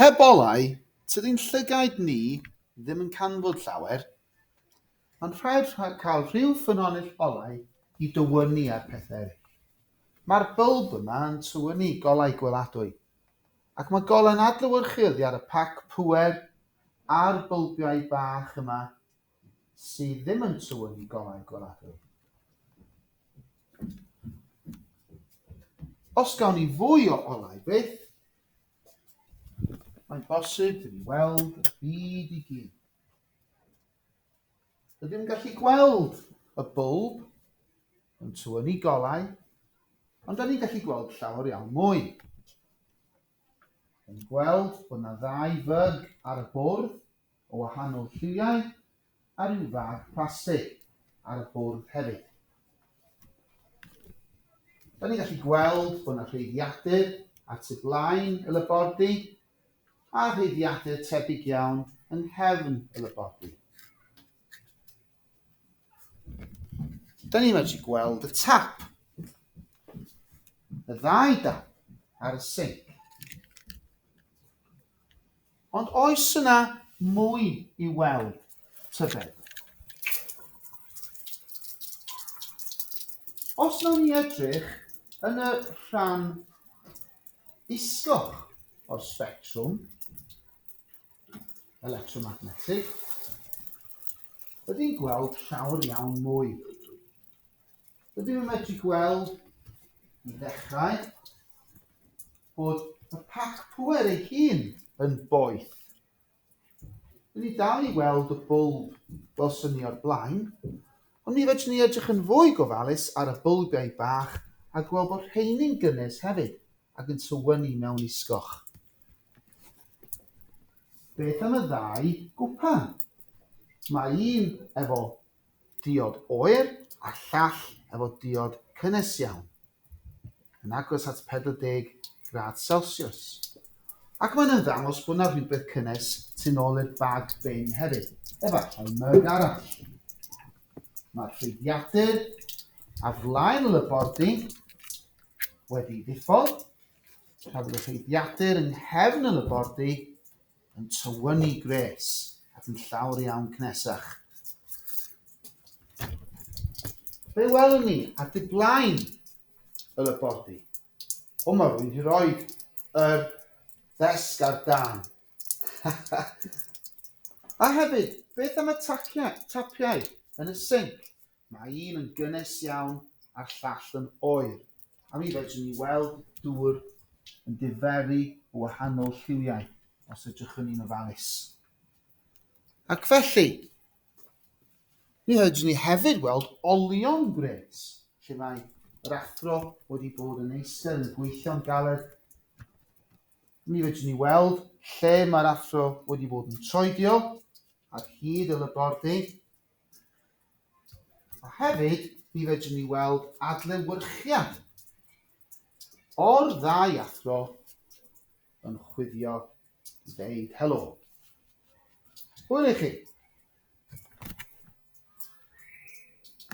Heb olau, tydi'n llygaid ni ddim yn canfod llawer. Mae'n rhaid cael rhyw ffynhonnell olau i dywynnu ar pethau eraill. Mae'r bylb yma yn tywynnu golau gweladwy, ac mae golau'n adlewyrchu oddi ar y pac pŵer a'r bylbiau bach yma sydd ddim yn tywyn i gonnau gweladwy. Os gawn ni fwy o olau byth, mae'n bosib dyn ni weld y byd i gyd. Rydym yn gallu gweld y bwlb yn tywynnu golau, ond da ni'n gallu gweld llawer iawn mwy. Yn gweld bod yna ddau fyg ar y bwrdd, o wahanol lliwiau a rhyw fath plastig ar y bwrdd hefyd. Da ni'n gallu gweld bod yna rheiddiadur ar tu blaen y labordy a rheiddiadur tebyg iawn yng nghefn y labordy. Da ni'n medru gweld y tap. Y ddau dap ar y sinc. Ond oes yna mwy i weld, tybed? Os nawn ni edrych yn y rhan isgoch o'r sbectrwm, electromagnetig, rydyn ni'n gweld llawer iawn mwy. Rydyn ni'n medru gweld i ddechrau bod y pac pwer ei hun yn boeth. Rydyn ni dal i weld y bwlb fel syni o'r blaen, ond mi fedrwn ni edrych yn fwy gofalus ar y bwlbiau bach a gweld bod rheini'n gynnes hefyd ac yn tywynnu mewn isgoch. Beth am y ddau gwpan? Mae un efo diod oer a llall efo diod cynnes iawn, yn agos at 40 gradd celsiws, ac mae'n ymddangos bod yna rhywbeth cynnes tu nôl i'r bag bin hefyd, efallai myg arall. Mae'r rhwydiadur ar flaen y labordy wedi ddiffodd, Cafodd y rheiddiadur yng nghefn y labordy yn tywynnu gwres ac yn llawr iawn cnesach. Be welwn ni ar dy blaen y labordy? O, mae rwy'n hi roi yr ddesg ar dan. A hefyd, beth am y tapiau yn y sinc? Mae un yn gynnes iawn a'r llall yn oer, a mi fedrwn ni weld dŵr yn diferu o wahanol lliwiau os edrychwn ni'n ofalus. Ac felly, mi fedrwn ni hefyd weld olion gwres, lle mae yr athro wedi bod yn eistedd yn gweithio'n galed. Mi fedrwn ni weld lle mae'r athro wedi bod yn troedio ar hyd y labordy, A hefyd, mi fedrwn ni weld adlewyrchiad o'r ddau athro yn chwifio i ddeud helo. Hwyl i chi!